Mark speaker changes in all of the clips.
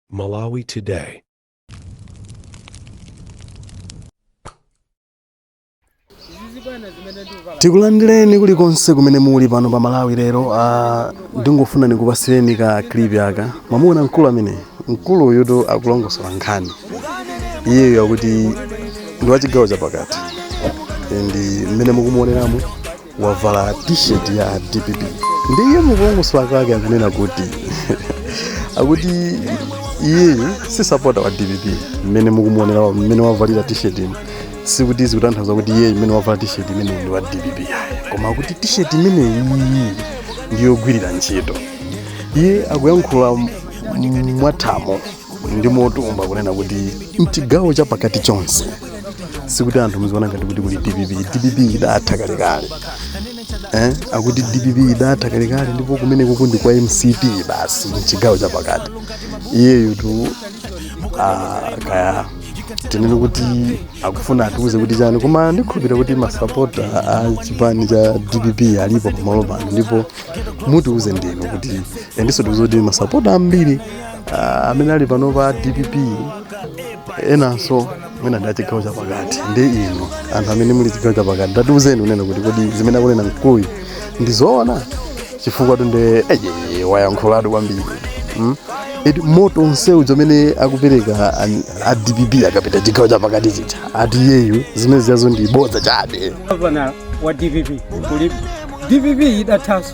Speaker 1: Malawi
Speaker 2: Today. tikulandireni kulikonse kumene muli pano pa malawi lero ah, ndingofuna ndikupasireni ka clip aka mwamuona mkulu ameneyu mkulu uyutu akulongosola nkhani iyeyo akuti ndi wachigawo chapakati ndi mmene mukumuoneramo wavala t-shirt ya dpp ndiye mukulongosola kwake akunena kuti akuti iyeyu si sapota wa dpp mmene mukumuonera wa- mmene wavalira t-shirt sikuti zikutanthauza kuti iyeyu mmene wavala t-shirt imeneyi ndi wa dpp koma akuti t-shirt imeneyi ndiyogwirira ntchito iye akuyankhula m- m- mwathamo ndi motumba kunena kuti mchigawo cha pakati chonse sikuti anthu muziona ngati kuti kuli dpp dpp idatha kalekale eh? akuti dpp idatha kalekale ndipo kumene kuja ndi kwa mcp basi mchigawo cha pakati iyeyotu ah, kaya tinene kuti akufuna atiuze kuti chani koma ndikhulupira kuti masapota a chipani cha dpp alipo pamalo pano ndipo mutiuze ndinu kuti ndiponso tiuze kuti masapota ambiri Ah, amene ali pano pa dpp enanso mwina ndi achigawo chapakati ndi inu anthu amene muli chigawo chapakati tatiuzeni kunena kuti kodi zimene akunena mkuluyu ndi zoona chifukwa tu nde iye wayankhulatu kwambiri mm? eti moto onsewu zimene akupereka an- a dpp akapita chigawo chapakati chicha ati iyeyu zimene zijazo ndi bodza chabe gavana wa dpp
Speaker 3: kulipo dpp idathanso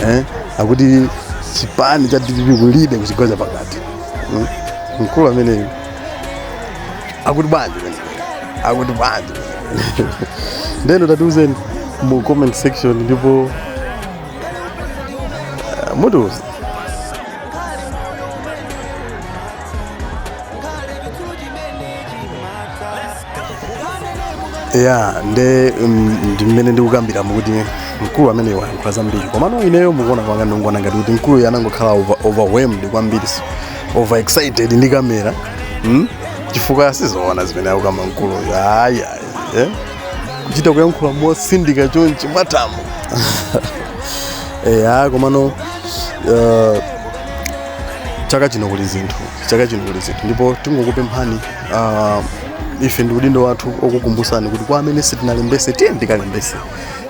Speaker 2: eh, akuti chipani cha dpp kulibe kuchigawo cha pakati Mm. mkulu ameneyu akuti bwanji akuti bwanji ndeno tatiuzeni mu comment section ndipo uh, mutiuze ya nde mm, ndi mmene ndikukambiramo kuti mkulu ameneyu wayankhula zambiri komano ineyo mukuona kwanga ndikuona ngati kuti mkuluyo anangokhala over- overwhelmed kwambiri so overexcited ndi kamera mm? chifukwa sizoona zimene akukamba mkuluyo ayi ayi eh? kuchita kuyankhula mosindika chonchi mwatamo eya komano uh, chaka chino kuli zinthu chaka chino kuli zinthu ndipo tingokupemphani uh, ife ndi udindo wathu okukumbusani kuti kwa amene sitinalembese tiyeni tikalembese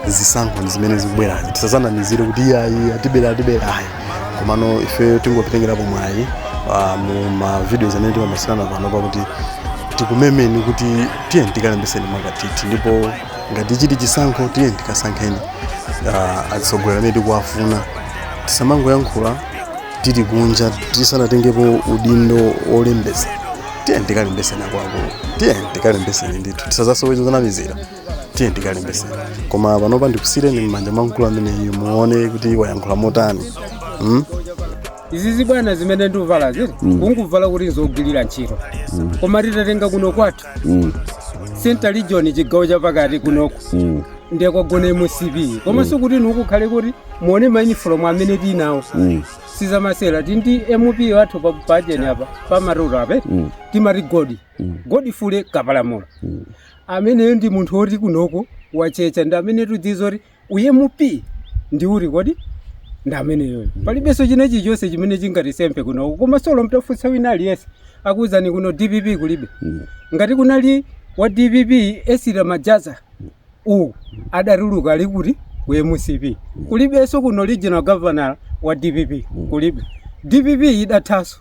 Speaker 2: zisankho ndi zimene zikubwerazi tisazanamizire kuti iyayi atibera atibera ayi komano ife tingopitengerapo mwayi ah, mu ma videos amene timamasirana pano pakuti tikumemeni kuti tiyeni tikalembeseni mwa nkhwithithi ndipo ngati chili chisankho tiyeni tikasankheni ah, atsogoleri amene tikuwafuna tisamangoyankhula tili kunja tisanatengepo udindo olembesa tiyeni tikalembeseni akuluakulu tiyeni tikalembeseni ndithu tisazasowe zanamizira tiyeni tikalembese koma panopa ndikusiyireni m'manja mwa mkulu ameneyu muone kuti wayankhula motani
Speaker 3: mm? izizi bwana zimene ndikuvala zi nkungovala kuti nzogwirira ntchito koma titatenga kuno kwathu central region chigawo chapakati kunoko ndiye kwagona mcp koma sikuti mukhale kuti muone mayunifomu amene tinawo sizamasera tili ndi mp wathu pa budget apa pamaliro ape timati godi godifule kapalamula ameneyo ndi munthu woti kunoko watchecha ndi amene tudziwa kuti u mp ndi uti kodi ndi ameneyoyo palibenso china chilichonse chimene chingatisempe kunoko koma solo mutafunsa wina aliyense akuwuzani kuno dpp kulibe ngati kunali wa dpp esira majaza uwu adatuluka ali kuti ku mcp kulibenso kuno regional governor wa dpp kulibe dpp idathanso